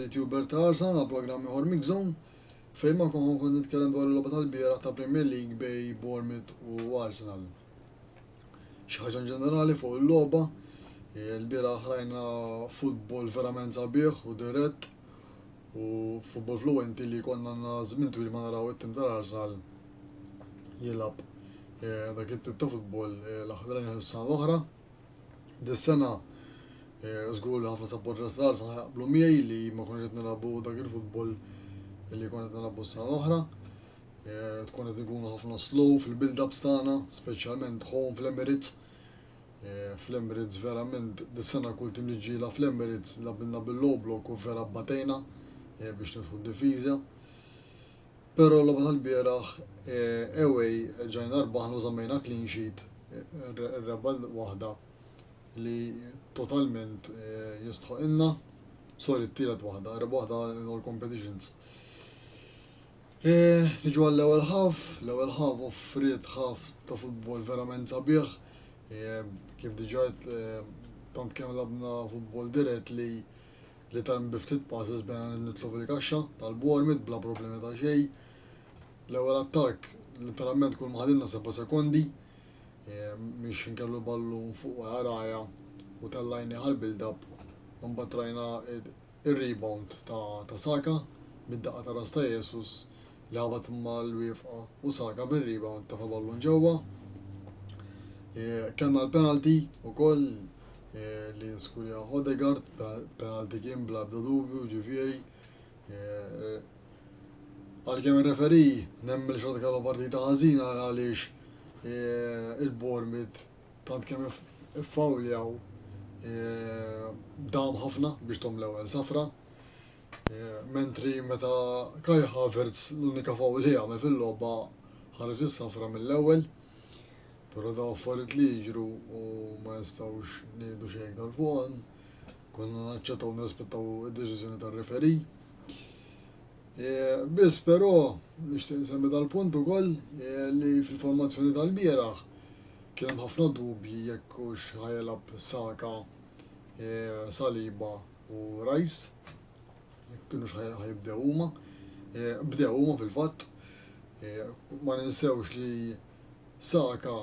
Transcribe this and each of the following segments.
Għażilt Hubert Tarzan għal programm ieħor Mixzone, fejn ma konħu kont nitkellem dwar il-logħba tal-bieraħ ta' Premier League bej Bournemouth u Arsenal. Xi ħaġa inġenerali fuq il-logħba, il-bieraħ rajna futbol verament sabiħ u dirett u futbol fluwenti li konna għandna żmien twil ma naraw it-tim tal-Arsenal jilgħab eh, dak it-tip ta' futbol eh, l-aħħar sena l-oħra. Dis-sena eh, żgur li ħafna supporters tal arsa ħajqblu miegħi li ma konx qed nilagħbu dak il-futbol li kont qed nilagħbu s-sena l-oħra. Eh, tkun qed nkunu ħafna slow fil-build-ups tagħna, speċjalment home fl-Emirates. Eh, Fl-Emirates verament dis-sena kull tim li ġiela fl-Emirates labilna bil-low block u vera batejna biex nidħu d-difiża. Però l-logħba tal-bieraħ away reġajna rbaħna u żammejna clean sheet ir-rebgħa waħda li totalment jistħoqilna, sorry t-tielet waħda, ir-rebgħa waħda in all competitions. Niġu għall-ewwel ħaf, l-ewwel ħaf offriet ħaf ta' futbol verament sabiħ, kif diġà tant kemm labna futbol dirett li li tgħallem bi ftit passes bejn għan il-mitlu fil-kaxxa tal-Bournemouth bla problemi ta' xejn. L-ewwel attakk letteralment kull ma ħadilna seba' sekondi miex inkellu l-ballun fuq waraja u tellajni għal build-up u mbagħad rajna ir-rebound ta' Saka mid-daqqa ta' ras ta' Jesus Lagħbet mal-wiefqa u Saka bir-rebound tefa' ballun ġewwa. Kellna l-penalty ukoll li nskurja Odegaard, penalty kien bla ebda dubju ġifieri. Għalkemm ir-referi nemmel xorta kellu partita ħażina għaliex il-Bournemouth tant kemm iffawljaw dam ħafna biex tom l-ewwel safra. Mentri meta Kai Havertz l-unika foul li għamel fil-logħba ħareġ is-safra mill-ewwel. Però daw affarijiet li jiġru u ma nistgħux ngħidu xejn iktar fuqhom. Konna naċċettaw nirrispettaw id-deċiżjoni tar-referi. E, biss però nixtieq nsemmi dal-punt ukoll e, li fil-formazzjoni tal-bieraħ kien hemm ħafna dubji jekk hux ħajelab Saka e, Saliba u Rice, jekk kinux ħa jibdew huma. Bdew huma fil-fatt. Ma ninsewx li Saka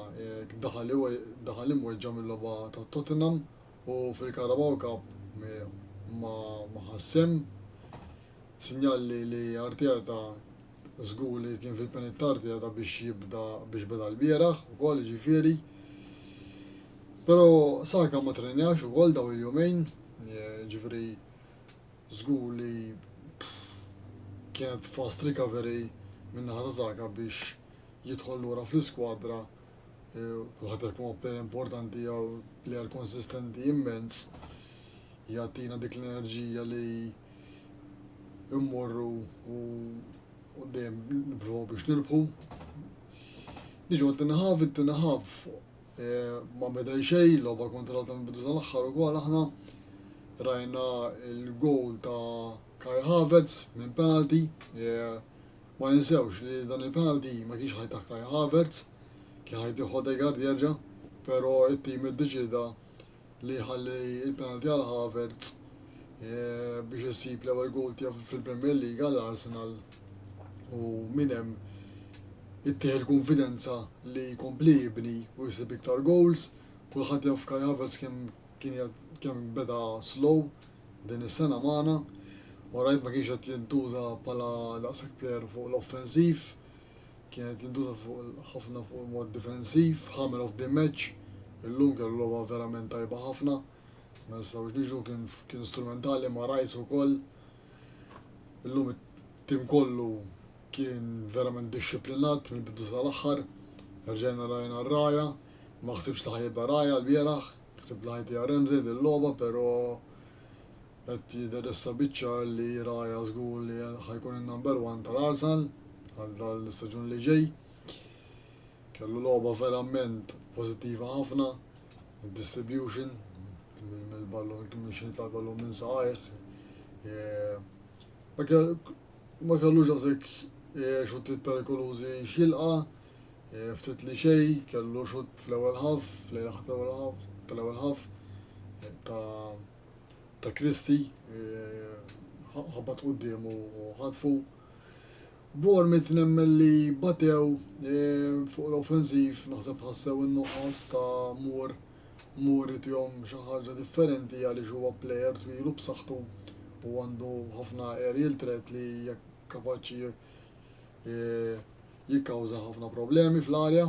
daħal imweġġa' mil-logħba ta' Tottenham u fil-Carabao Cup ma ħa sehem. Sinjal li Arteta Żgur li kien fil-penijiet tardi għadha biex jibda biex beda lbieraħ ukoll jiġifieri. Però Saka ma trenjax ukoll dawn il-jumejn, jiġifieri żgur li kienet fast recovery min-naħa ta' Saka biex jidħol lura fl-iskwadra, kulħadd jaf kemm huwa plejer importanti jew plejer konsistenti immens, jagħtina dik l-enerġija li immorru u dejjem nipprovaw biex nirbħu. Niġu għad-dinaħaf, id-dinaħaf eh, ma medaj xej, loba kontra ta' bidu tal-axħar u għal aħna rajna il-gowl ta' Kai Havertz minn penalty, eh, ma ninsewx li dan il-penalty ma kienx ħajta Kai Havertz, kien ħajti Hodegard jerġa', pero it-tim id-deċida li jħalli l-penalty għal Havertz biex isib l-ewwel goal tiegħu fil-Premier League għal Arsenal u minn hemm ittieħ il-konfidenza li jkompli jibni u jsib iktar goals. Kulħadd jaf Kai Havertz kemm kien kemm beda slow din is-sena magħna u rajt ma kienx qed jintuża bħala daqshekk player fuq l-offensiv. kienet tintuża ħafna fuq il-mod difensiv, hammer of the match, illum kellu logħba verament tajba ħafna, ma nistgħux niġu kien strumentali ma' Rice ukoll. Illum it-tim kollu kien verament dixxiplinat mill-bidu sal-aħħar, rġajna rajna r-raja, ma ħsibx li ħajibqa' raja l-bieraħ, ħsib li ħajtija Ramsey dil-logħba, però Qed jidher issa biċ-ċar li Raja żgur li ħa jkun in-number one tal-Arsenal għal dan l-istaġun li ġej. Kellu logħba verament pożittiva ħafna, id-distribution mill-ballun kien minn xi tal-ballun minn saqajh. Ma kellux għasek xuttiet perikolużi xilqa, ftit li xej, kellu xutt fl-ewwel ħaf, fl-ewwel ħaf, tal-ewwel ħaf ta' ta' Kristi, ħabat quddiemu u ħatfu. Bournemouth nemmen li batew fuq l-offensiv, naħseb ħassew in-nuqqas ta' mur mur itihom xi ħaġa differenti għaliex huwa plejer twilu b'saħħtu u għandu ħafna aerial threat li jekk kapaċi e, jikkawża ħafna problemi fl-arja.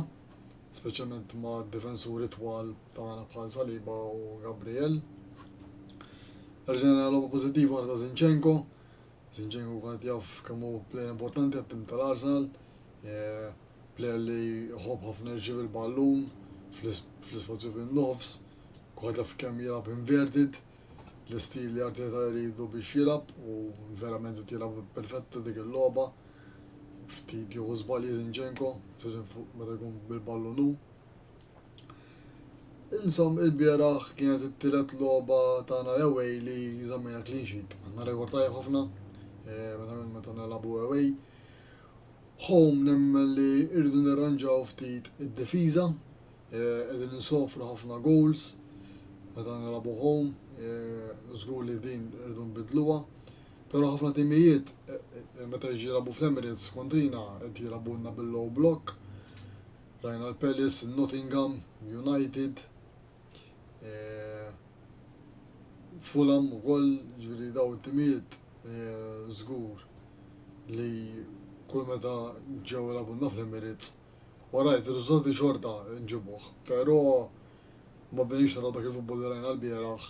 speċjalment ma' difensuri twal tagħna bħal Saliba u Gabriel. Rġajna logħba pożittiva oħra ta' Zinchenko. Zinchenko kont jaf kemm hu plejer importanti għat-tim tal-Arsenal, eh, plejer li jħobb ħafna jirċiev il-ballun fl-ispazju fin-nofs, kont jaf kemm jilgħab inverted, L-istil li Arteta jridu biex jilgħab u verament qed jilgħab perfetta dik il-logħba. Ftit jieħu żbalji Zinchenko, speċjalment fuq meta jkun bil-ballun hu. Insom il-bieraħ kienet it-tielet logħba tagħna l-away li żammejna clean sheet. Għandna rekord tajjeb ħafna eh, meta meta nilagħbu away. Home nemmen li rridu nirranġaw ftit id-difiża Qegħdin insofru ħafna goals meta nilagħbu home, żgur li din irridu nbidluha. Però ħafna timijiet meta jiġi jilagħbu fl-Emirates kontrina qed jilagħbulna bil-low block. Rajna l-Palace, Nottingham, United, Fulham ukoll, ġifieri daw it-timijiet żgur li kull meta ġew ilagħbulna fl-Emirates Orajt, ir-riżultati xorta nġibuh, pero ma bdejniex naraw dak il-futbol li rajna l-bieraħ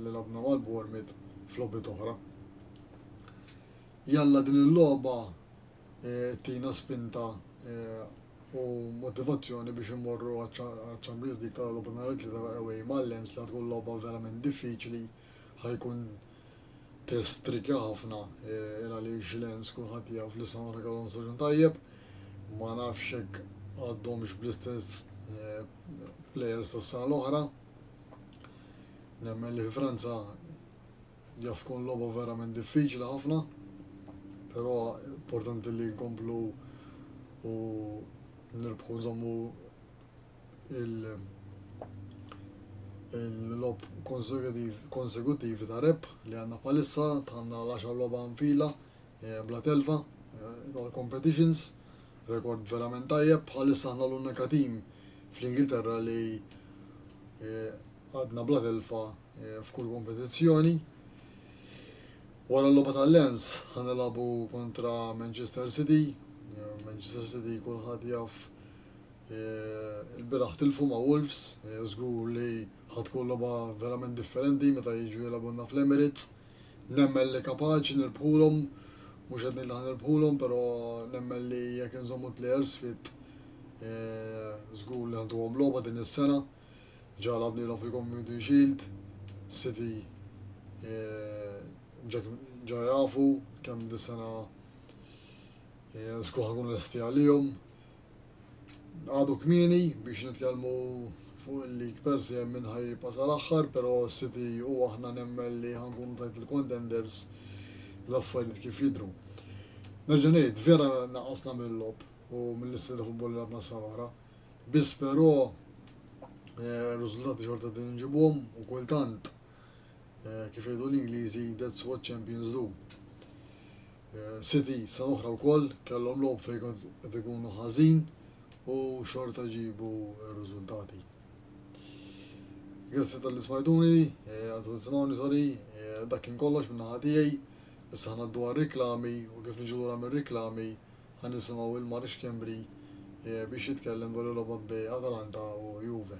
li lagħbna mal-Bournemouth f'logħbiet oħra. Jalla din il-logħba ttina spinta u motivazzjoni biex immorru għaċ-Champions League ta' għada nhar it-Tlieta away ma' Lens li tkun logħba verament diffiċli Ħa jkun test tricky ħafna il għaliex Lens kulħadd jaf li Sahara kellhom staġun tajjeb. Ma nafx jekk għadhomx bl-istess players tas-sena l-oħra. Nemmen li fi Franza jaf tkun logħba verament diffiċli ħafna, però importanti li nkomplu u nirbħu nżommu il-logħob konsekuttivi ta' rebħ li għandna bħalissa tħanna l-10 logħba nfila eh, bla telfa eh, tal competitions rekord verament tajjeb bħalissa għandna l-unika tim fl-Ingilterra li eh, għadna bla telfa f'kull kompetizzjoni. Wara l-logħba tal-Lens ħanilagħbu kontra Manchester City. Manchester City kulħadd jaf Il-bieraħ tilfu ma' Wolves, żgur li ħa tkun logħba verament differenti meta jiġu jilgħbulna fl-Emirates. Nemmen li kapaċi nirbħulhom, mhux qed ngħid li ħa nirbħulhom però nemmen li jekk inżommu l-plejers fit żgur li ħa ntuhom logħba din is-sena. Ġa lagħbnielhom fil-Community Shield, City ġa jafu kemm dis-sena żgur ħa nkunu lesti għalihom. għadu kmieni biex nitkellmu fuq il-lig per se minn ħaj jibqa' sal-aħħar, però City u aħna nemmen li ħankunu tajt il-contenders l-affarijiet kif jidhru. Nerġa' ngħid, vera naqasna mill-logħob u mill-istil ta' futbol li labna sawara, biss però eh, riżultati xorta din nġibuhom u kultant eh, kif jgħidu l-Ingliżi that's what champions do. City sena oħra wkoll kellhom logħob fejn qed ikunu ħażin u xorta ġibu r-riżultati. Grazzi tal-li smajtuni, għandu nisimgħuni sorry, dak kien kollox minn naħa tiegħi, issa ħnaddu għar-riklami u kif niġu lura mir-riklami ħan nisimgħu il-Marix Kembri biex jitkellem dwar il-logħba bej Atalanta u Juve.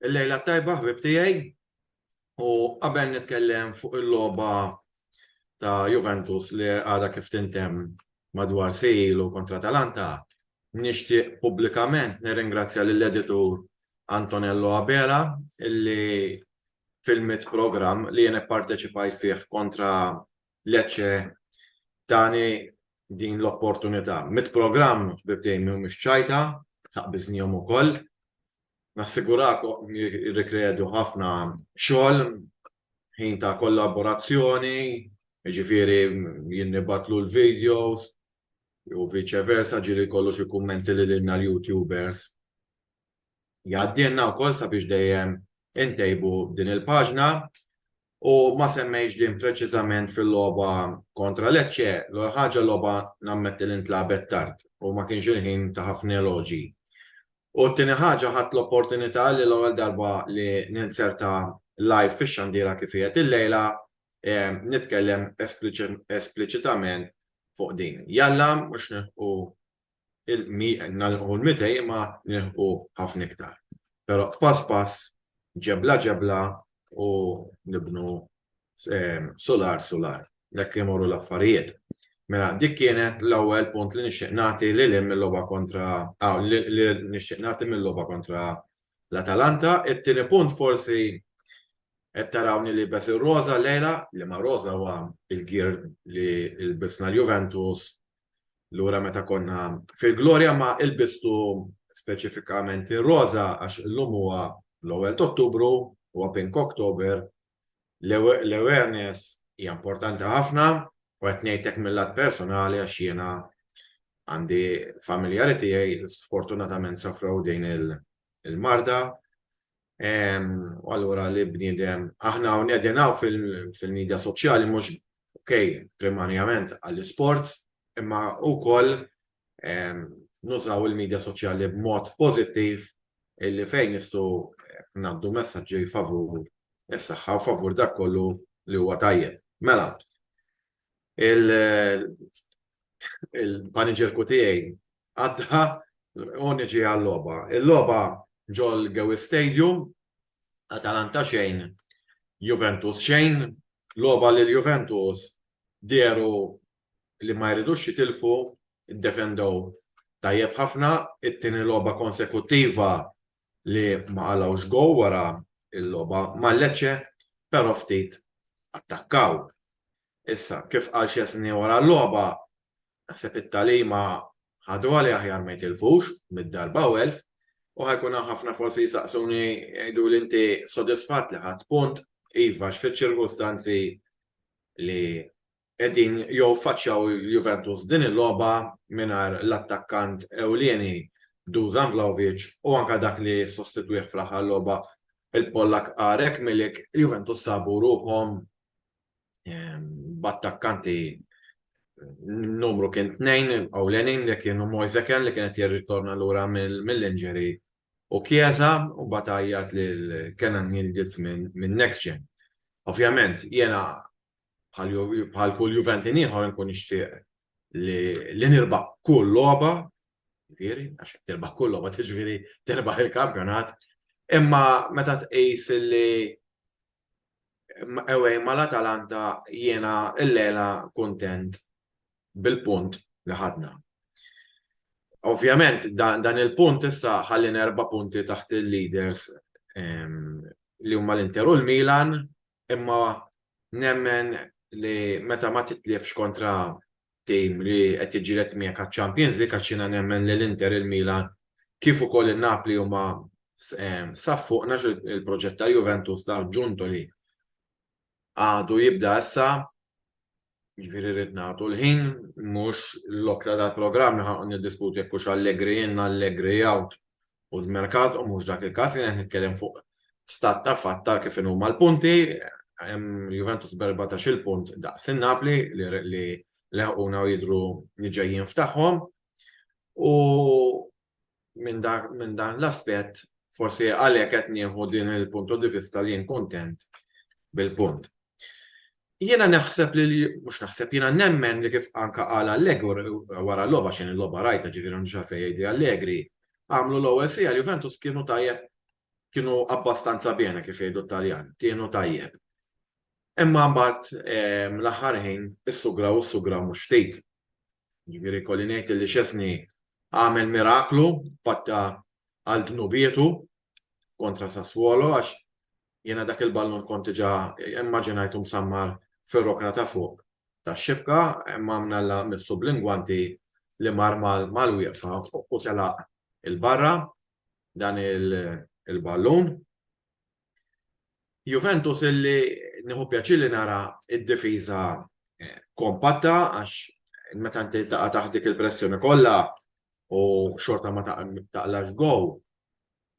Il-lejla tajba ħbib tiegħi u qabel nitkellem fuq il-logħba ta' Juventus li għada kif tintem madwar sejlu kontra Talanta, nixtieq pubblikament nirringrazzja lill-editur Antonello Abela illi fil-mit programm li jien ipparteċipajt fih kontra Lecce tani din l-opportunità. Mit programm ħbieb tiegħi mhumiex ċajta, saqbiżnihom ukoll. Nassigurakom jirrikredu ħafna xogħol, ħin ta' kollaborazzjoni, jiġifieri jien nibgħatlu l-videos u viċe versa, ġieli jkollu xi kummenti lilna l-YouTubers. jgħaddilna wkoll sabiex dejjem intejbu din il-paġna u ma semmejx din preċiżament fil-logħba kontra Lecce, l ħaġa logħba nammetti li ntlabet tard u ma kienx il-ħin ta' ħafna eloġi. U t-tieni ħaġa ħadd l-opportunità li l-ewwel darba li ninzerta live fix-xandira kif qiegħed il-lejla eh, nitkellem espliċitament fuq din. Jalla mhux u nagħlqu l-200 imma nilħqu ħafna iktar. Però pass pass, ġebla ġebla u nibnu sular sular. Hekk imorru l-affarijiet. Mela dik kienet l-ewwel punt li nixtieq nagħti lil hemm mill-logħba kontra li nixtieq nagħti mill-logħba kontra l-Atalanta. It-tieni punt forsi qed tarawni li bes ir-roża lejla, li ma roża huwa l-gear li lbisna l-Juventus Lura meta konna fil-glorja ma ilbistu speċifikament ir-roża għax illum huwa l-ewwel t'Ottubru, huwa Pink October, l-awareness hija importanti ħafna u qed ngħid hekk mil-lat personali għax jiena għandi familjari tiegħi sfortunatament safrew din il-marda U allura li bniedem, aħna hawn qegħdin hawn fil-medja soċjali mhux okej primarjament għall-isport, imma wkoll nużaw il-medja soċjali b'mod pożittiv illi fejn nistgħu ngħaddu messaġġi favur is-saħħa u favur dak kollu li huwa tajjeb. Mela, il-paniġerku tiegħi għadda u niġi għal-logħba. Il-logħba ġol Gewi Stadium, Atalanta xejn, Juventus xejn, logħba li l-Juventus dieru li ma jridux jitilfu, iddefendew tajjeb ħafna, it-tieni logħba konsekuttiva li ma qalgħux go wara l-logħba ma' Lecce, però ftit attakkaw. Issa, kif qal Szczesny wara l-logħba, Naħseb it-tagħlima ħadruha li aħjar ma jitilfux mid-darba u elf u ħajkun hawn ħafna forsi jisaqsuni jgħidu li inti sodisfatt li ħadd punt iva x'fiċ-ċirkustanzi li qegħdin jew faċċjaw Juventus din il-logħba mingħajr l-attakkant ewlieni Dusan Vlahovic u anke dak li sostitwih fl-aħħar logħba il-Pollak Arek Milik, Juventus sabu ruħhom b'attakkanti numru kien tnejn ewlenin li kienu Moiseken li kienet jirritorna lura mill-injury u Chiesa u batajjat li l-Kenan Yildiz minn next gen. Ovvjament, jena bħal kull Juventin ieħor nkun nixtieq li nirba kull logħba, ġifieri, għax tirba kull logħba tiġifieri tirba il-kampjonat, imma meta tqis li ewej mal-Atalanta jiena l-lela kuntent bil-punt li ħadna. Ovvjament, dan il-punt issa ħallin erba' punti taħt il-leaders ehm, li huma l-Inter u l-Milan, imma nemmen li meta ma titlifx kontra tim li qed jiġġieled miegħek għaċ-Champions League għax jiena nemmen li l-Inter, il-Milan kif ukoll in-Napli huma saf fuq nax il-proġett ta' Juventus ta' Ġunto li għadu jibda issa Ġifieri rrid nagħtu l-ħin mhux l-okla dal-programm ħa niddiskuti jekk hux Allegri in, Allegri out, u d-merkat u mhux dak il-każ jien qed nitkellem fuq stat ta' fatt ta' kif huma l-punti, Juventus b'14 il-punt daqs in-Napli li leħquna u jidhru li ġejjin f'tagħhom. U minn dan l-aspett forsi għalhekk qed nieħu din il-punto di vista li jien kuntent bil-punt. Jiena naħseb li mhux naħseb jiena nemmen li kif anka qal Allegor wara l-logħba xejn il-logħba rajta ġifieri għandu xafej jgħidi Allegri, għamlu l-ewwel sija Juventus kienu tajjeb kienu abbastanza bjena kif jgħidu Taljan, kienu tajjeb. Imma mbagħad ehm, l-aħħar ħin issugraw issugraw mhux ftit. Ġifieri kolli ngħid li Szczesny għamel miraklu patta għal dnubietu kontra Sassuolo għax jiena dak il-ballun kont diġà immaġinajtu msammar fir-rokna ta' fuq tax-xibka imma mnalla missu bl-ingwanti li mar mal-wieqfa u telaq il-barra dan il-ballun. Juventus illi nieħu pjaċir li nara id-difiża eh, kompatta għax meta inti taqa' taħt dik il-pressjoni kollha u xorta ma taqlax gow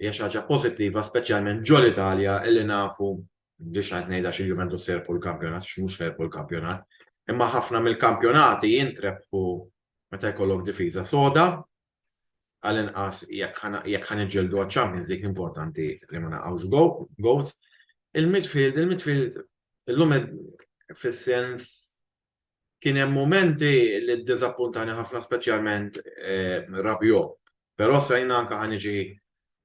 hija xi ħaġa pożittiva speċjalment ġol Italja illi nafu biex qed ngħidha xi Juventus serpu l-kampjonat xi mhux serpu l-kampjonat. Imma ħafna mill-kampjonati jintrebħu meta jkollok difiża soda, għall-inqas jekk ħa niġġieldu għaċ-Champions League importanti li ma naqgħux goals. Il-midfield, il-midfield illum fis-sens kien hemm mumenti li ddiżappuntani ħafna speċjalment Rabiot. Però sa jiena anke ħa niġi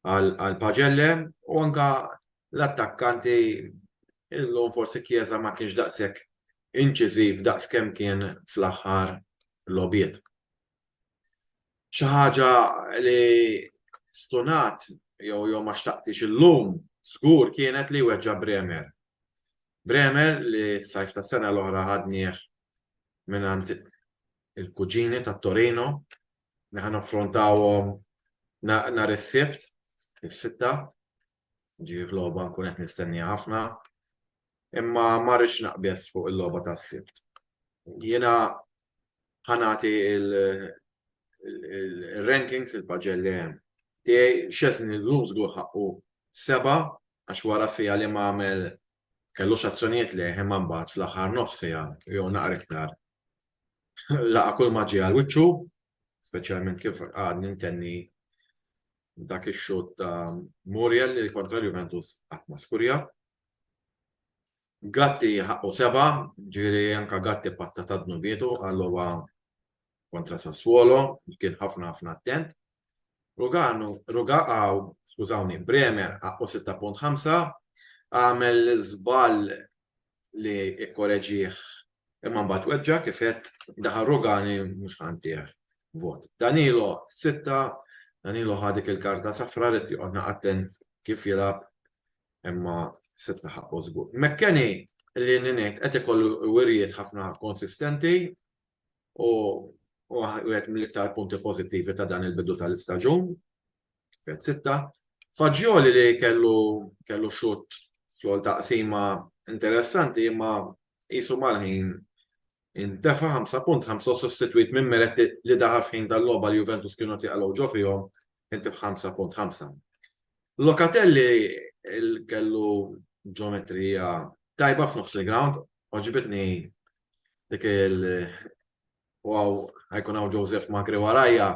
għal Pagelle u anke l-attakkanti illum forsi Chiesa ma kienx daqshekk inċiżiv daqs kemm kien fl-aħħar logħbiet. Xi ħaġa li stunat jew jew ma xtaqtix illum żgur kienet li weġġa' Bremer. Bremer li s-sajf tas-sena l-oħra ħadnieh mingħand il-kuġini ta' Torino li ħa naffrontawhom nhar is-Sibt is-sitta Ġi logħba nkun qed nistennija ħafna. Imma ma rridx naqbes fuq il-logħba tas-sibt. Jiena ħanati il-rankings il-paġell li hemm. Tiegħi xeżni l-Luzgu ħaqqu seba' għax wara sija li ma għamel kellu x'azzjonijiet li imma mbagħad fl-aħħar nofs sija jew naqra iktar. Laqa' kull ma ġie għal wiċċu, speċjalment kif għadni ntenni dak ix-xut ta' Muriel li kontra l-Juventus qatt ma skurja. Gatti ħaqqu seba, ġiri anka Gatti patta ta' dnubietu għallowa kontra Sassuolo, kien ħafna ħafna attent. Ruganu, Ruga għaw, skużawni, Bremer ħaqqu 6.5, għamel żball li ikkoreġih imma mbagħad weġġa' kif għedt daħal Rugani mhux ħantih vot. Danilo sitta, Danilo ħadik il-karta safra rid joqgħodna attent kif jilgħab imma sitta ħaqqu żgur. Mekkeni li ngħid qed ikollu wirjiet ħafna konsistenti u wieħed mill-iktar punti pożittivi ta' dan il-bidu tal-istaġun. Fett sitta, Fagioli li kellu kellu xut fl-għol taqsima interessanti imma jisu mal-ħin intefa 5.5 sostituit minn Meretti li daħaf ħin tal-loba li Juventus kienu tiqalaw ġo fihom inti 5.5. Lokatelli kellu ġometrija tajba f'nofs il-ground, oġibitni dik il- u għaw ħajkun għaw Joseph Magri warajja,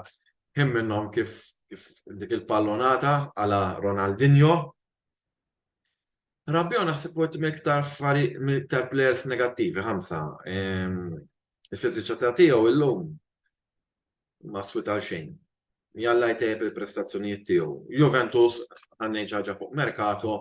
him minnom kif dik il-pallonata għala Ronaldinho. Rabbio naħseb u għettim iktar fari iktar players negattivi, ħamsa. Ehm, Il-fiziċa ta' tiegħu illum ma swit għal xejn. jalla jtejjeb il-prestazzjonijiet tiegħu. Juventus għandna ħaġa fuq merkato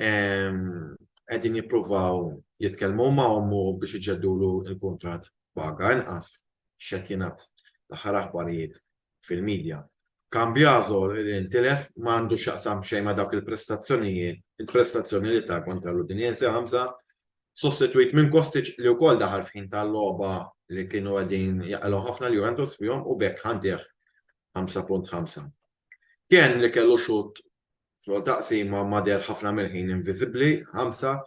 qegħdin jippruvaw jitkellmu ma' ommu biex iġeddulu il-kuntratt paga inqas x'qed jingħad l-aħħar aħbarijiet fil-medja. Cambiaso li ntilef ma għandu x'jaqsam xejn ma' dawk il-prestazzjonijiet, il-prestazzjoni li ta' kontra l-Udinese ħamsa sostitwit minn Kostic li wkoll daħal f'ħin ta' logħba li kienu qegħdin jaqilgħu ħafna l-Juventus fihom u b'hekk ħaddih 5.5. Kean li kellu xutt fl-ewwel taqsima ma deher ħafna mill-ħin inviżibbli, 5,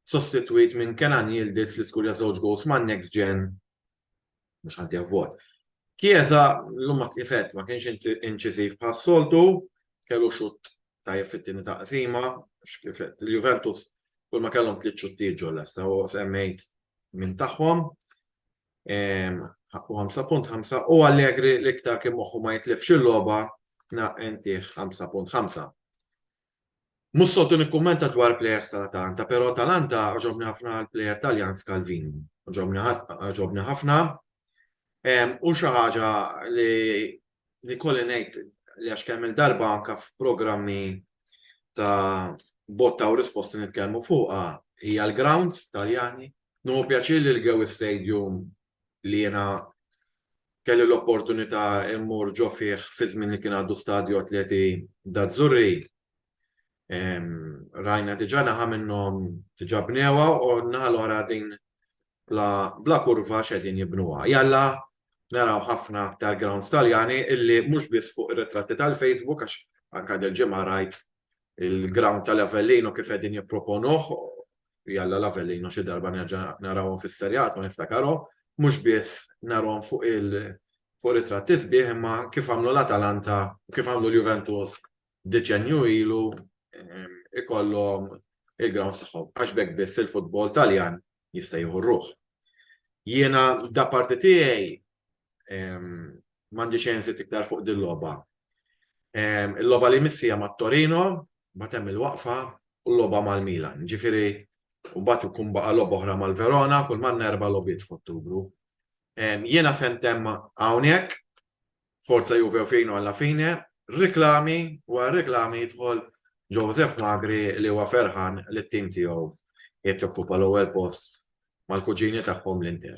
sostitwit minn Kenan Yildiz li skurja żewġ goals man-Next Gen mhux ħadd javvot. Chiesa llum ma kifet ma kienx inċiżiv bħas-soltu, kellu xutt tajjeb fit-tieni taqsima, x'kifet il-Juventus kull ma kellhom tliet xuttijiet ġol lesta u semmejt minn tagħhom. Ħaqqu 5.5 u Allegri l-iktar kien moħħu ma jitlifx il-logħba naqentih 5.5. Mhux soltu nikkummenta dwar plejers tal-Atalanta, però Atalanta għoġobni ħafna l-plejer Taljan Scalvini. Għoġobni ħafna. U xi ħaġa li kolli ngħid li għax kemm il-darba anke f'programmi ta' botta u risposti nitkellmu fuqha hija l-grounds Taljani. Nieħu pjaċir li l-Gewi Stadium li jiena kelli l-opportunità mmur ġo fih fi żmien li kien għadu Stadio Atleti d'Azzurri. Rajna diġà naħa minnhom diġà bnewha u naħa l-oħra din bla, bla kurva x'qegħdin jibnuha. Jalla naraw ħafna aktar grounds Taljani illi mhux biss fuq ir-ritratti tal-Facebook għax anke dil-ġimgħa rajt il-ground tal-Avellino kif qegħdin jipproponuh jalla l-Avellino xi darba nerġa' narawhom fis-serjat u niftakarhom, mhux biss narhom fuq il fuq ritratti sbieħ imma kif għamlu l-Atalanta, kif għamlu l-Juventus deċenju ilu ehm, ikollhom il-ground tagħhom għax bekk biss il-futbol Taljan jista' jieħu ruħ. Jiena da parti tiegħi Mandi xejn zit iktar fuq din loba. Il-loba li missija ma' Torino, batem il-waqfa u loba mal-Milan. Ġifiri, u bat ikun baqa loba oħra mal-Verona, kull man nerba lobit f'Ottubru. Jena sentem għawnek, forza juve u fejnu għalla fine, reklami, u għal reklami jitħol Joseph Magri li huwa ferħan li t-tim tiegħu jett jokkupa l-ewwel post mal-kuġini tagħhom l-Inter.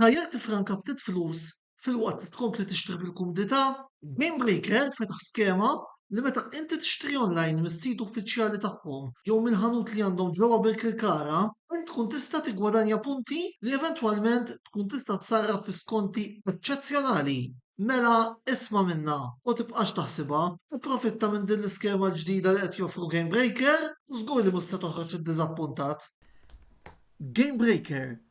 Tajjeb tiffranka ftit flus filwaqt li tkompli tixtri bil-kumdità? GameBreaker fetaħ skema li meta inti tixtri online mis-sit uffiċjali tagħhom jew mill-ħanut li għandhom ġewwa Birkirkara, int tkun tista' tiggwadanja punti li eventwalment tkun tista' tsarraf fi skonti eċċezzjonali. Mela isma' minnha u tibqax taħsibha, ipprofitta minn din l-iskema l-ġdida li qed joffru GameBreaker u żgur li mhux se toħroġ iddiżappuntat. GameBreaker,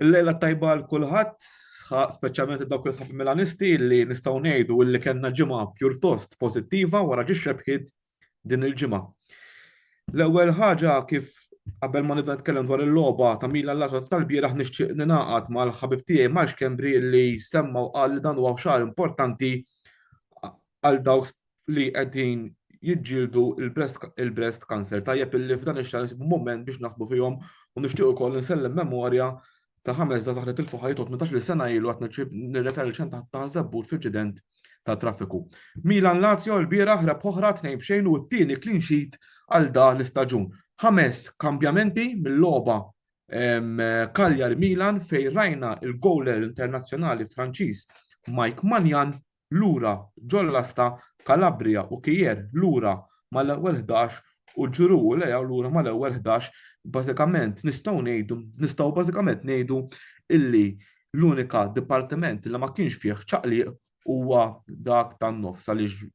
Il-lejla tajba għal kulħadd, speċjalment id-dawk li sħab Milanisti li nistgħu ngħidu illi kellna ġimgħa pjurtost pożittiva wara ġi xebħiet din il-ġimgħa. L-ewwel ħaġa kif qabel ma nibda nitkellem dwar il-logħba ta' Mila l-għaġa tal-bieraħ nixtieq ningħaqad mal-ħabib tiegħi Marx Kembri li semma u qal li dan huwa xahar importanti għal dawk li qegħdin jiġġieldu il-breast cancer. Tajjeb illi f'dan ix-xahar nsibu mument biex naħsbu fihom u nixtieq ukoll insellem memorja ta' ħames żgħażagħ li tilfu ħajjithom 18-il sena ilu qed nirreferi xejn ta' żabbut f'inċident ta' traffiku. Milan Lazio l-bieraħ rebħ oħra tnejn b'xejn u t-tieni clean sheet għal dan l-istaġun. Ħames kambjamenti mill-logħba Cagliari Milan fejn rajna il-gowler internazzjonali Franċiż Mike Manjan lura ġollasta Calabria u Kier lura mal-ewwel 11 u ġuru u lejaw lura mal-ewwel 11 bażikament nistgħu ngħidu nistgħu bażikament ngħidu illi l-unika dipartiment li ma kienx fih ċaqliq huwa dak tan-nofs għaliex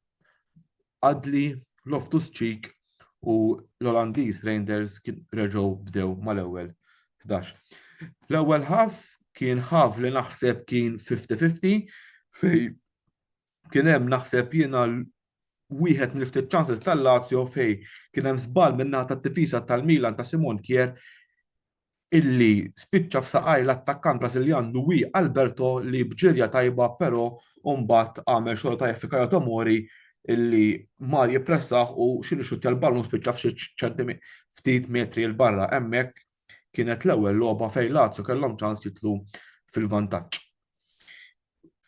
Adli, Loftus Cheek u l-Olandiż Reinders reġgħu bdew mal-ewwel 11. L-ewwel ħaf kien ħaf li naħseb kien 50-50 fej kien hemm naħseb jiena wieħed mill-ftit ċanses tal-Lazio fej kien hemm żball minnaħa tat-tifisa tal-Milan ta' Simon Kier illi spiċċa f'saqajr l-attakkant Brażiljan Luis Alberto li b'ġirja tajba però mbagħad għamel xogħol tajjeb fi Kayo Tomori illi mar jippressah u xi rixuttja l-ballun u spiċċa f'xi ċentimi ftit metri 'l barra. Hemmhekk kienet l-ewwel logħba fejn Lazio kellhom ċans jidħlu fil-vantaġġ.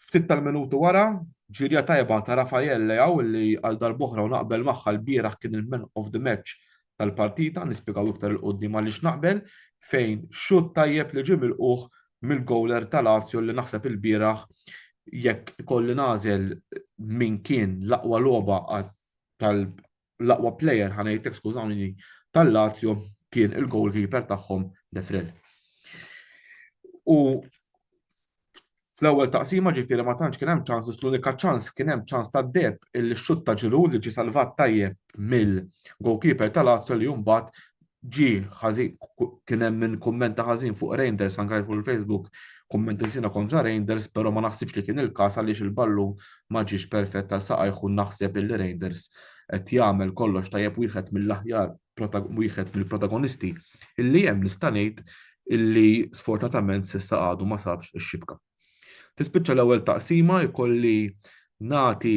Ftit tal-minuti wara, ġirja tajba ta' Rafael Leao li għal darb'oħra u naqbel magħha lbieraħ kien il-man of the match tal-partita, nispjegaw iktar 'il quddiem għaliex naqbel, fejn xutt tajjeb li ġie milqugħ mill-gowler ta' Lazio li naħseb ilbieraħ jekk ikolli nagħżel min kien l-aqwa logħba l-aqwa player, ħa ngħidlek skużawni, tal-Lazio kien il-goalkeeper tagħhom De Frel. U fl-ewwel taqsima ġifieri ma tantx kien hemm ċans, l-unika ċans kien hemm ċans ta' deb il-xut ta' ġiru li ġi salvat tajjeb mill-goalkeeper tal-Lazio li mbagħad ġie ħażin kien hemm min kummenta ħażin fuq Reinders anke fuq il-Facebook kumment insina kontra Reinders, però ma naħsibx li kien il-każ għaliex il-ballu ma ġiex perfett għal saqajħu naħseb illi Reinders qed jagħmel kollox tajjeb wieħed mill-aħjar wieħed mill-protagonisti illi hemm nista' ngħid illi sfortunatament s'issa għadu ma sabx ix-xibka. Tispiċċa l-ewwel taqsima jkolli nagħti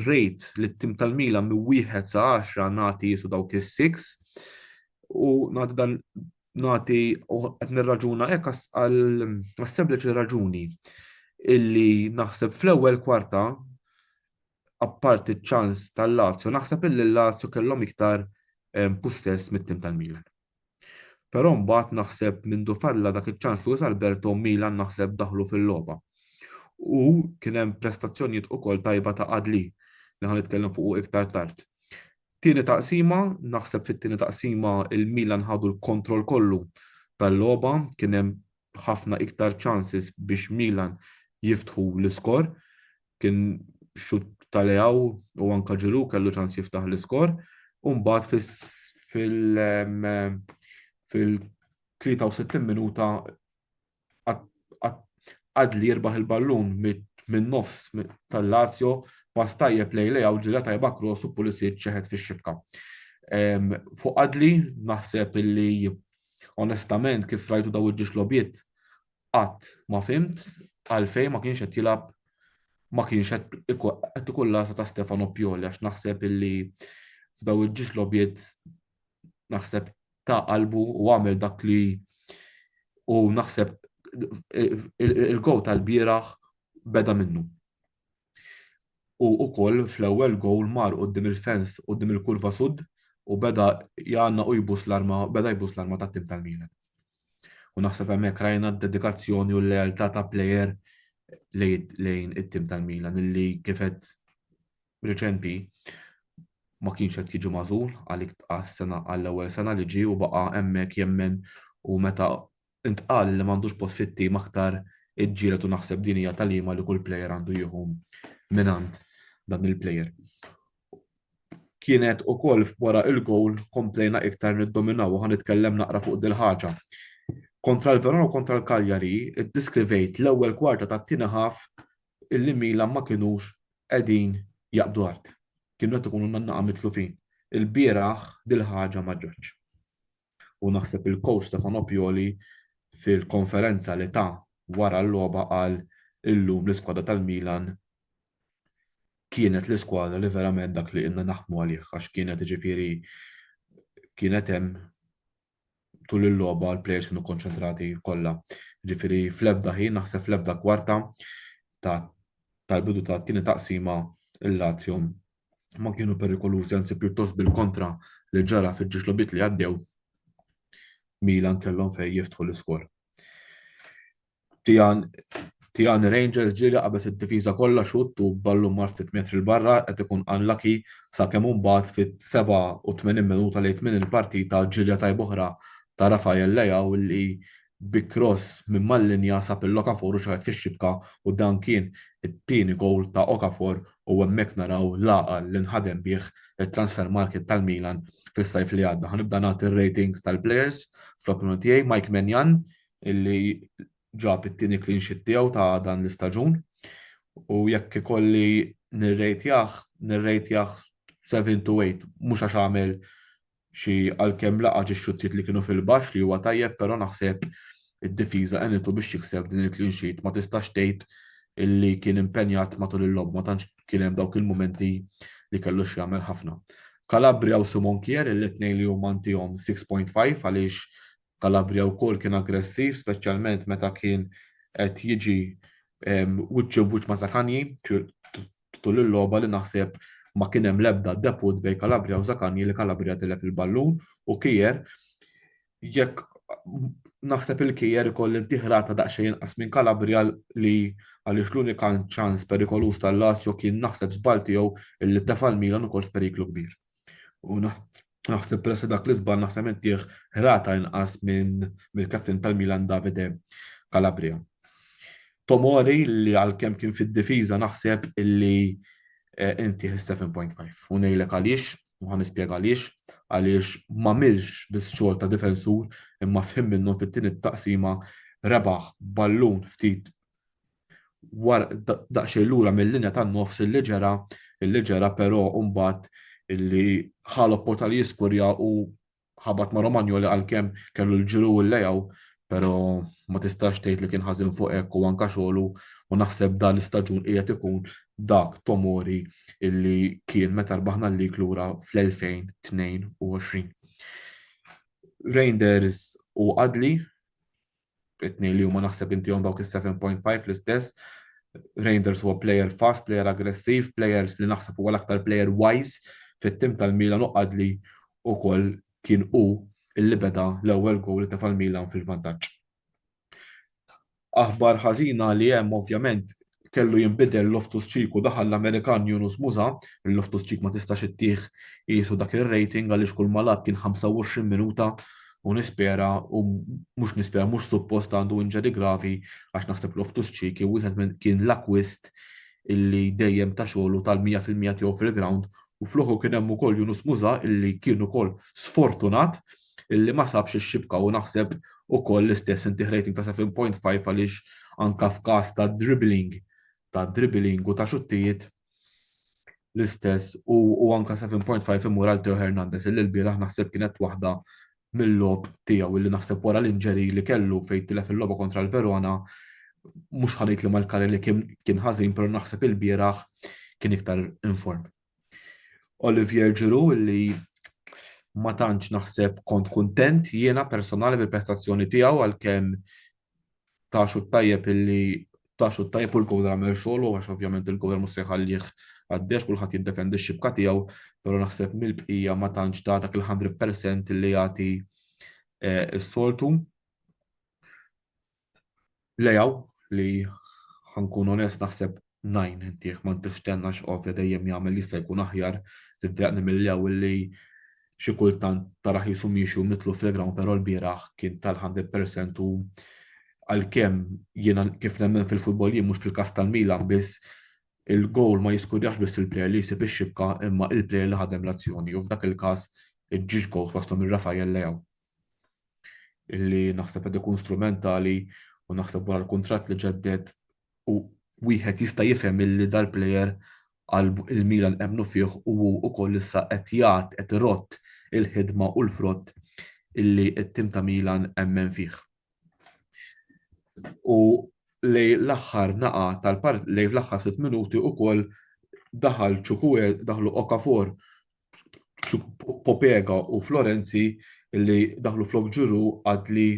rate lit-tim tal-Milan minn wieħed sa 10 nagħti jisu dawk is-six u nagħti dan nagħti qed nirraġuna hekk għal sempliċi raġuni illi naħseb fl-ewwel kwarta apparti ċ-ċans tal-Lazio naħseb illi l-Lazio kellhom iktar possess mit-tim tal-Milan. Però mbagħad naħseb mindu falla dak iċ-ċans Luis Alberto Milan naħseb daħlu fil-logħba. U kien hemm prestazzjonijiet ukoll tajba ta' Adli li ħan nitkellem fuq iktar tard. Tieni taqsima, naħseb fit-tieni taqsima il-Milan ħadu l-kontroll kollu tal-logħba, kien hemm ħafna iktar chances biex Milan jiftħu l-iskor. kien xutt ta' Leao u anke Giroud kellu ċans jiftaħ l-iskor u mbagħad fil-63 minuta qad li jirbaħ il-ballun min-nofs tal-Lazio pass tajjeb lejn Leao ġirja tajba cross u Pulisic ċeħed fix-xibka. Fuq Adli naħseb illi onestament kif rajtu dawn id-dixxlogħbiet qatt ma fhimt għalfejn ma kienx qed jilgħab ma kienx qed ikun l-għażla ta' Stefano Pioli għax naħseb illi f'daw il-ġiex logħbiet naħseb ta' qalbu u għamel dak li u naħseb il-gow tal-bieraħ beda minnu. u ukoll fl-ewwel gowl mar quddiem il-fence quddiem il-kurva sud u beda jgħannaq u jbus l-arma beda jbus l-arma tat-tim tal-Milan. U naħseb hemmhekk rajna d-dedikazzjoni u l-lealtà ta' plejer lejn it-tim tal-Milan illi kif qed riċenti ma kienx qed jiġi magħżul għalik tqas sena għall-ewwel sena li ġie u baqa' hemmhekk jemmen u meta intqal li m'għandux post fit-tim aktar iġġieled u naħseb din hija tagħlima li kull plejer għandu jieħu mingħand dan il-plejer. Kienet ukoll wara il-gowl komplejna iktar niddominaw u ħa nitkellem naqra fuq dil-ħaġa. Kontra l-Verona u kontra l-Cagliari, iddiskrivejt l-ewwel kwarta tat-tieni ħaf illi Milan ma kinux qegħdin jaqbdu art. Kienu qed ikunu nannaqa mitlufin. Il-bieraħ dil-ħaġa ma ġratx. U naħseb il-coach Stefan Opioli fil-konferenza li ta wara l-logħba qal illum l-iskwadra tal-Milan kienet l-iskwadra li verament dak li ilna naħdmu għalih għax kienet ġifieri kienet hemm tul il-logħba l-plejers kienu konċentrati kollha. Ġifieri fl-ebda ħin naħseb fl-ebda kwarta ta' tal-bidu ta' tieni taqsima il-Lazio ma kienu perikolużi anzi pjuttost bil-kontra li ġara fiġġiex logħbiet li għaddew Milan kellhom fejn jiftħu l-iskor. Tijan Tijan Rangers ġieli qabeż id-difiża kollha xutt u ballu mar ftit metri l barra qed ikun unlucky sakemm imbagħad fit-87 minuta lejt minn il-partita ġilja tajb oħra ta' Rafael Leao li bi kross minn mal-linja sab lil Okafor u xaħet fix-xibka u dan kien it-tieni gowl ta' Okafor u hemmhekk naraw l-għaqal li nħadem bih it-transfer market tal-Milan fis-sajf li għadda. Ħa nibda nagħti r-ratings tal-players fl-opinjoni tiegħi, Mike Maignan illi ġab it-tieni clean sheet tiegħu ta' dan l-istaġun u jekk ikolli nirrejtjah, nirrejtjah seven to eight mhux għax għamel xi għalkemm laqa' xi xuttiet li kienu fil-baxx li huwa tajjeb però naħseb id-difiża għenitu biex jikseb din il-clean sheet ma tistax tgħid li kien impenjat matul il-logħba ma tantx kien hemm dawk il-mumenti li kellu x'jagħmel ħafna. Calabria u Simon Kjær il-tnejn li huma ntihom 6.5 għaliex Calabria wkoll kien aggressiv speċjalment meta kien qed jiġi wiċċ imb-wiċċ ma' Zaccagni tul il-logħba li naħseb ma kien hemm l-ebda debut bejn Calabria u Zaccagni li Calabria tilef il-ballun u Kier jekk naħseb il-Kier ikolli ntieh rata daqsxejn inqas minn Calabria li għaliex l-unika ċans perikoluż tal-Lazio kien naħseb żball tiegħu li tefa' l-Milan ukoll f'periklu kbir. U Naħseb peress dak li żball naħseb intih ħrata inqas minn mill-kapten tal-Milan Davide Calabria. Tomori li għalkemm kien fid-difiża naħseb illi eh, inti 7.5 u ngħidlek għaliex u ħan nispjega għaliex għaliex ma milx biss xogħol ta' difensur imma fħim minnhom fit-tieni taqsima rebaħ ballun ftit war daqsxejn lura mill-linja tan-nofs illi ġera, illi ġera però mbagħad illi ħa l-opportunità li jiskurja u ħabat ma' Romagnoli għalkemm kellu l-ġru u l-lejgħu, però ma tistax tgħid li kien ħażin fuq hekk u anke xogħlu u naħseb dan l-istaġun qiegħed ikun dak Tomori illi kien meta rbaħna l-lig lura fl-2022. Reinders u Adli it-tnejn li huma naħseb inti għom dawk is-7.5 l-istess. Reinders huwa player fast, player aggressiv, player li naħseb huwa l-aktar player wise fit-tim tal-Milan u qadli u koll kien u illi beda l-ewwel gowl ta' fal-Milan fil-vantaġġ. Aħbar ħażina li hemm ovvjament kellu jinbidel Loftus Cheek u daħal l-Amerikan Yunus Musah, il-Loftus Cheek ma tistax ittih qiesu dak ir-rating għaliex kull ma lagħab kien 25 minuta u nispera u mhux nispera mhux suppost għandu injury gravi għax naħseb Loftus Cheek kien wieħed minn kien l-akkwist illi dejjem ta xogħlu tal-100 fil-mija tiegħu fil-ground u fl-uħu kien hemm ukoll Yunus Muża illi kien ukoll sfortunat illi ma sabx ix-xibka u naħseb ukoll l-istess inti rating ta' 7.5 għaliex anke f'każ ta' dribbling ta' dribbling u ta' xuttijiet l-istess u anke 7.5 imur għal Teo Hernandez illi l-bieraħ naħseb kienet waħda mill-logħob tiegħu li naħseb wara l-injury li kellu fejn tilef il-logħba kontra l-Verona, mhux ħa ngħid li mal-career li kien ħażin però naħseb ilbieraħ kien iktar in form. Olivier Giroud li ma tantx naħseb kont kuntent jiena personali bil-prestazzjoni tiegħu għalkemm ta' xut tajjeb illi ta' xut tajjeb u l-kowra għamel xogħlu għax ovvjament il-kowra mhux se jħallih għaddex kulħadd jiddefendi x-xibka tiegħu, però naħseb mill-bqija ma tantx ta' dak il-hundred percent illi jagħti s-soltu. Leao li ħankun onest naħseb Nine, Intieh ma ntihx tenna għax ovvja dejjem jagħmel jista' jkun aħjar li ddejjaqni mill-lew illi xi kultant tarah qisu miexi u mitluf fil-ground però lbieraħ kien ta' l-hundred percent u għalkemm jiena kif nemmen fil-futbol jien mhux fil-każ tal-Milan biss il-gowl ma jiskurjax biss il-plejer li jsib ix-xibka imma il-plejer li ħadem l-azzjoni u f'dak il-każ iġġiex gowls waslhom minn Rafael Leao illi naħseb qed ikun strumentali u naħseb wara l-kuntratt li ġedded u wieħed jista' jifhem illi dal-plejer għal il-Milan emmnu fih u hu wkoll issa qed jgħadd qed irodd il-ħidma u l-frott illi t-tim ta' Milan emmen fih. U lejn l-aħħar nagħa tal-part lejn l-aħħar sitt minuti wkoll daħal Chukwueze daħlu Okafor Popega u Florenzi li daħlu flok ġuru għadli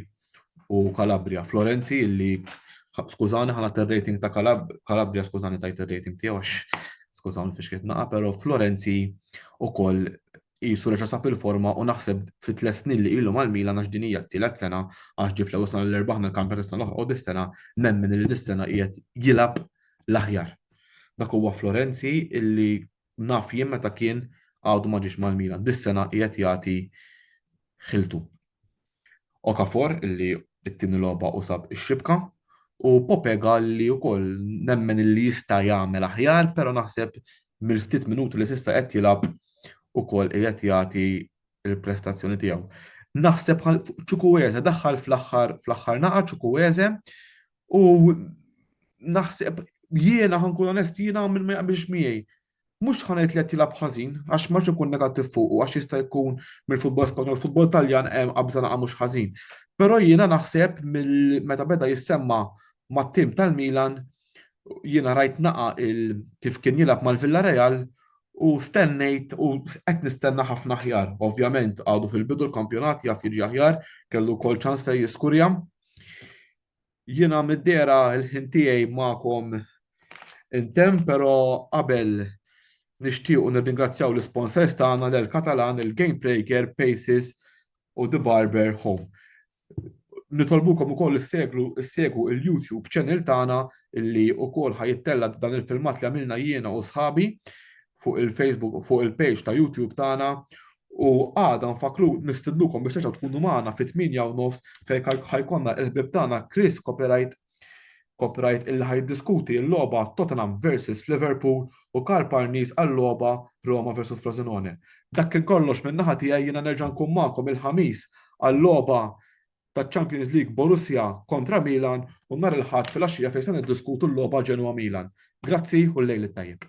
u Kalabria. Florenzi li skużani ħana ter-rating ta' Kalabria, skużani tajt ir-rating tiegħu għax skużani fiex kiet naqa, però Florenzi ukoll jisu reġa' sab il-forma u naħseb fit tliet snin li ilu mal-Milan għax din hija t-tielet sena għax ġie fl-ewwel sena l-erbaħ mill-kampjonat is-sena l-oħra u dis-sena nemmen li dis-sena qiegħed jilgħab l-aħjar. Dak huwa Florenzi illi Naf jien meta kien għadu ma ġiex mal-Milan. Dis-sena qiegħed jagħti ħiltu. Okafor illi t-tieni logħba u sab ix-xibka u Popega li wkoll nemmen illi jista' jagħmel aħjar, però naħseb mill-ftit minuti li s'issa qed jilgħab ukoll qiegħed jagħti l-prestazzjoni tiegħu. Naħseb Chukwueze daħħal fl-aħħar fl-aħħar naqa' Chukwueze U naħseb jiena ħankun onest jiena minn ma jaqbilx miegħi. Mhux ħanajt li qed jilgħab ħażin għax ma ikun negattiv fuq għax jista' jkun mill-futbol Spanjol, futbol Taljan hemm qabża naqa' mhux ħażin. Però jiena naħseb meta beda jissemma mat-tim tal-Milan jiena rajt naqa' kif kien jilgħab mal-Villarreal u stennejt u qed nistenna ħafna aħjar. Ovvjament għadu fil-bidu l-kampjonat jaf jiġi aħjar, kellu wkoll ċans fejn jiskurja. Jiena mid-dehra l-ħin tiegħi magħkom intemm, però qabel nixtiequ nirringrazzjaw l-isponsors tagħna l-El Catalan, il-Game Breaker, Paces u The Barber Home. Nitolbukom ukoll issegwu il-YouTube channel tagħna li wkoll ħa jittella' dan il-filmat li għamilna jiena u sħabi. fuq il-Facebook u fuq il-page ta' YouTube tagħna u għada nfaklu nistidnukom biex terġgħu tkunu magħna fit-8 u nofs fejn ħajkonna il-ħbib tagħna Chris Copyright Copyright illi ħajdiskuti l-logħba Tottenham versus Liverpool u Karl Parnis għal-logħba Roma versus Frosinone. Dak kien kollox minn naħa tiegħi jiena nerġa' nkun magħkom il-ħamis għal-logħba taċ-Champions League Borussia kontra Milan u nhar il-Ħadd filgħaxija fejn se niddiskutu l-logħba Genoa-Milan. Grazzi u l-lejl it-tajjeb.